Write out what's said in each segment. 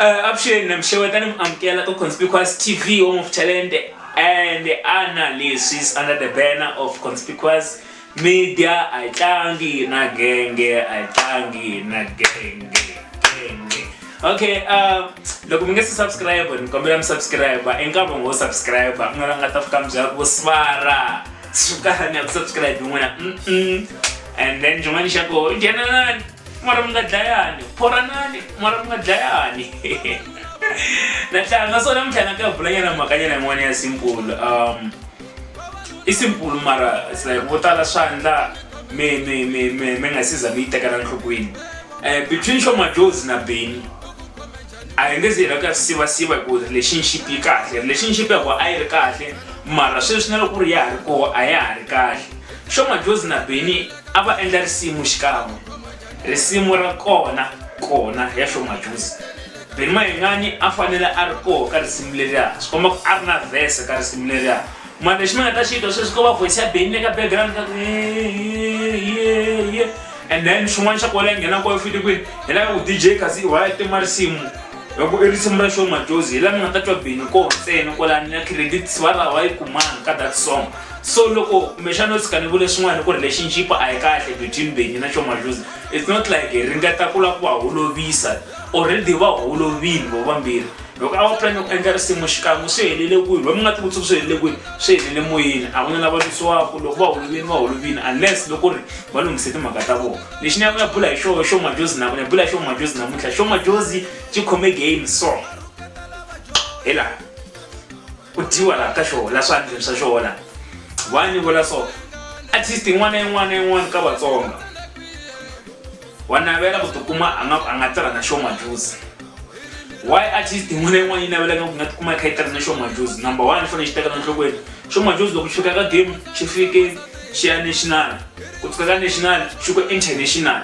Uh, avuxeni na mi xeweta ni mi amukela ka conspicuous tv home of talent and ana leswi is under the banner of conspicuous media a yi tlangi na genge a yi tlangi na genge genge okay uh, loko mi nge si subscribe ni kombela mi subscribe i nkarhi wo subscribe ku nga la nga ta fika mi byela ku swara sukani ya ku subscribe n'wina mm -mm. and then xin'wana xa koho nghenelani mara mi nga dlayani phoranani mara mi nga dlayani natlanga so namuntlha na ka vulanyana mhakanyana yin'wana ya simple um i simple mara like vo tala swandla mi mi mi mi mi nga siza mi yi tekela nhlokweni um between xomajozi na beni a hi nge zi hi lava ku ya swi sivasiva hi ku relationship yi kahle relationship ya ku a yi ri kahle mara sweswi na loko ku ri ya ha ri koho a ya ha ri kahle xomajozi na beni a va endla risimu xikan'we risimu ra kona kona ya hlomajuzi beni mayingani a fanele a ri koho ka risimu leriya swi komba ku a ri na vhese ka risimu leriya mara lexi mi nga ta xi twa sweswi ko va voice ya beni le ka background ka ye and then swin'wana xa kona ya nghena koho fiti kwini hi lava ku dj kasi wa ya tima risimu loko i risimu ra show majozi hi laha mi nga ta twa beni koho ntsena kwalani ya credit va ra wa yi kumanga ka that song so loko kumbexana no tshika ni vule swin'wana ku ri lexi njipa a yi kahle between benyi na chomajuzi it's not like hi ringeta ku lava ku va holovisa already va holovile vo vambirhi loko a va plani ku endla risimu xikan'we swi helele kwini va mi nga tivuti ku swi helele kwini swi helele moyeni a ku na lava lwisiwaka loko va holovini va holovini unless loko ri va lunghise timhaka ta vona lexi ni ya ku ya bula hi xoho xo majozi na ku ni ya bula hi xo majozi namuntlha xo majozi xi khome game so hi laha ku dyiwa la ka xona la swandleni swa xona wa ni vula so at least yin'wana yin'wana yin'wana ka vatsonga wa navela ku tikuma a nga a nga tirha na xoma juice why at least yin'wana yin'wana yi navelaka ku nga tikuma yi kha yi tirha na xoma juice number one i fanele xi tekela nhlokweni xoma juice loko xi fika ka game xi fike xi ya national ku fika ka national xi ku international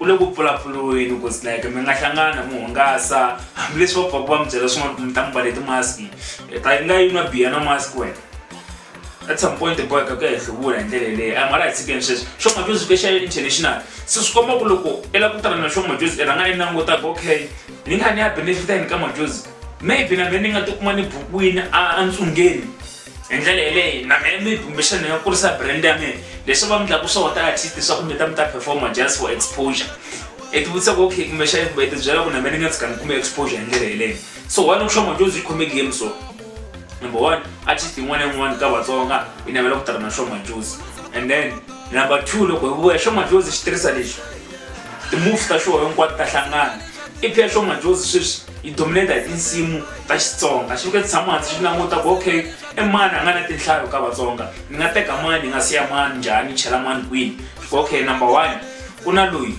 u le ku pfulapfuriweni ku like mi nga hlangana mi hungasa hambileswi va pfaka va mi byela swin'wana ku mi ta mi vale timaski eh, ta yi nga yi nwa biya na mask wena at some point boy ka ku ya hi hluvula hi ndlela leyi a mara hi tshikeni sweswi xo majuzi ka xa international se swi komba ku loko i lava ku tala na xo majuzi i rhanga i languta ku okay ni nga ni ya benefita yini ka majuzi maybe na mina ni nga tikuma ni bukwini a ntsungeni hi ndlela yeleyi na mina mi bumbexani ni nga kurisa brand ya mina leswi va mi ndlaku swo ta artist swa kumbe ta mi ta performa just for exposure i ti vutisa ku okay kumbexani kumbe i ti byela ku na mina ni nga tshika ni kume exposure hi ndlela yeleyo so why loko xoma jozi yi khome game so number one artist yin'wana na yin'wana ka vatsonga yi navela ku tirha na xoma jozi and then number two loko hi vuya xoma jozi xi tirhisa lexi ti-move ta xoho hinkwato ta hlangana i phexo majozi sweswi yi dominate hi tinsimu ta xitsonga xi fike tshama hansi xi languta ku okay i mani a nga na tinhlayo ka vatsonga ni nga teka mani ni nga siya mani njhani chela mani kwini ku okay number one ku na loyi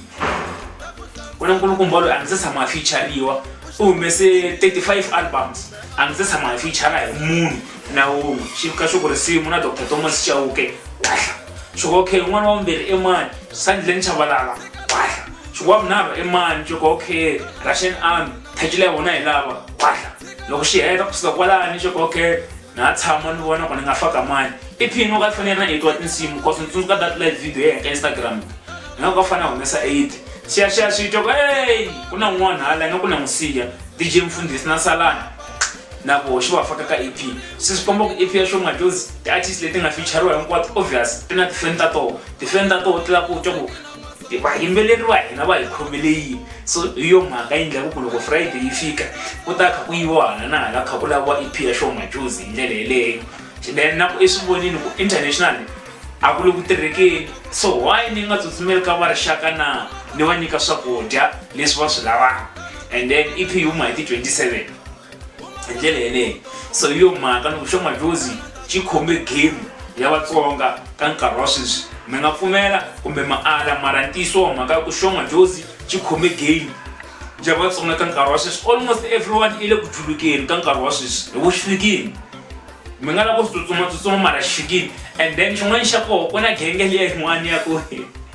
ku na nkulukumba loyi a ndzi se tshama a feature-riwa u humese 35 albums a ndzi se tshama a feature-ra hi munhu na wun'we xi fika xi ku risimu na dr thomas chauke wahla xi ku okay un'wana wa vumbirhi i mani sandleni chavalala wahla xikwavo nava i mani xokokhe russian army thacile ya vona hi lava khwahla loko xi heta kusuka kwalani xokokhe na ha tshama ni vona ku ni nga faka mani i phini u ka fanele na etwa tinsimu cause ni tsundzuka that live video ya henka instagram ni nga ku ka fanele humesa eight xiyaxiya swi twa ku ey ku na n'wana hala yi nga ku na n'wi siya dj mfundhisi na salana na ku xi va faka ka ep se swi komba ku ep ya xo majozi ti-artist leti nga featureiwa hinkwato obvious ti na tifeni ta toho tifeni ta toho ti la ku twa ku vayimbeleri va hina va hi khomele yini so hi yo mhaka yi ndlaku ku loko friday yi fika ku ta kha ku yiviwa hala na hala kha ku laviwa ep ya show majuzi hi ndlela yeleyo then na ku eswivonini ku international a ku le ku tirhekeni so why ni nga tsutsumeli ka va rixaka na ni va nyika swakudya leswi va swi lavaka and then ep yi huma hi ti 27 hi ndlela yeleyo so hi yo mhaka loko xo madlozi xi khome game ya vatsonga ka nkarhi wa sweswi mi nga pfumela kumbe maala mara ntiyiso wa mhaka ku xo madlozi xi khome game ya vatsonga ka nkarhi wa sweswi almost everyone i le ku julukeni ka nkarhi wa sweswi hi vuxikini mi nga lava ku swi tsutsumatsutsuma mara xikini and then xin'wana xa koho ku na genge liya yin'wana ya ku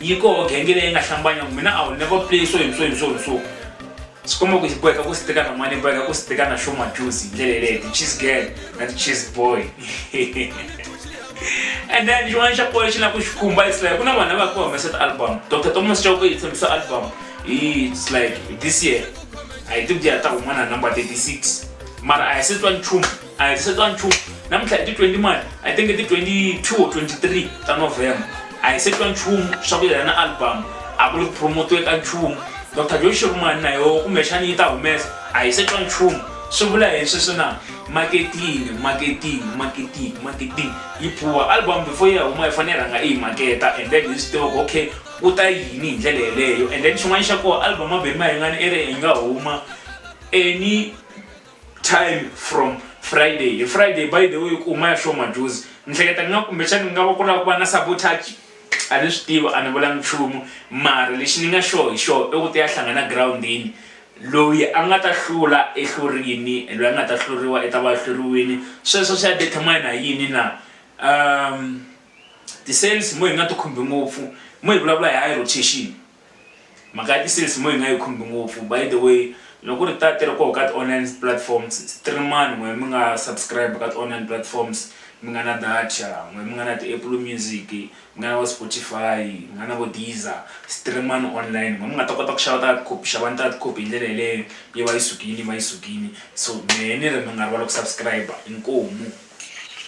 yi koho genge leyi nga hlambanya ku mina a wu never play so himso himso himso swi komba ku boheka ku sitika na mani boheka ku sitika na show majuice hi ndlela yeleyo ti-cheese girl na ti-cheese boy and then xin'wana xa pole xi na ku xi khumba its like ku na vanhu lava ku humesa ti-album dr thomas chauke yi tshembisa album hi its like this year a hi tibiya ta humana number 36 mara a hi se twa nchumu a hi se twa nchumu namuntlha hi ti 20 mani i think i ti 22 or 23 ta november a hi se twa nchumu swa ku yena album a ku ri ku promotiwe ka nchumu dr joy shirumani na yoho kumbexani yi ta humesa a hi se twa nchumu swi vula hi sweswi na marketing marketing marketing marketing yi pfuwa album before yi ya huma yi fanele yi rhanga i yi maketa and then hi swi tiva ku okay ku ta yini hi ndlela yeleyo and then xin'wana xa koho album a beni ma hi ngani i ri hi nga huma any time from friday hi friday by the way ku huma ya show majuzi ni hleketa ni nga kumbexani ni nga va ku lava ku va na sabotage a ni swi tivi a ni vulangi nchumu mara lexi ni nga sure hi xona i ku ti ya hlangana girawundini loyi a nga ta hlula ehlurini loyi a nga ta hluriwa i ta va hluriwini sweswo swi ya determine hi yini na um ti-sales mo hi nga ti khumbi ngopfu mo hi vulavula hi high rotation Mhaka ya ti-sales mo yi nga yi khumbi ngopfu by the way loko ku ri ta ti ri koho ka ti-online platforms stream-ani n'wehe mi nga subscribe ka ti-online platforms mi nga na data n'wehe mi nga na ti-Apple Music mi nga na vo Spotify mi nga na vo Deezer stream-ani online n'wehe mi nga ta kota ku xava ta copy xavani ta ti-copy hi ndlela yeleyo yi va yi sukile yi va yi sukile so mehe ni ri mi nga rivali ku subscribe inkomu.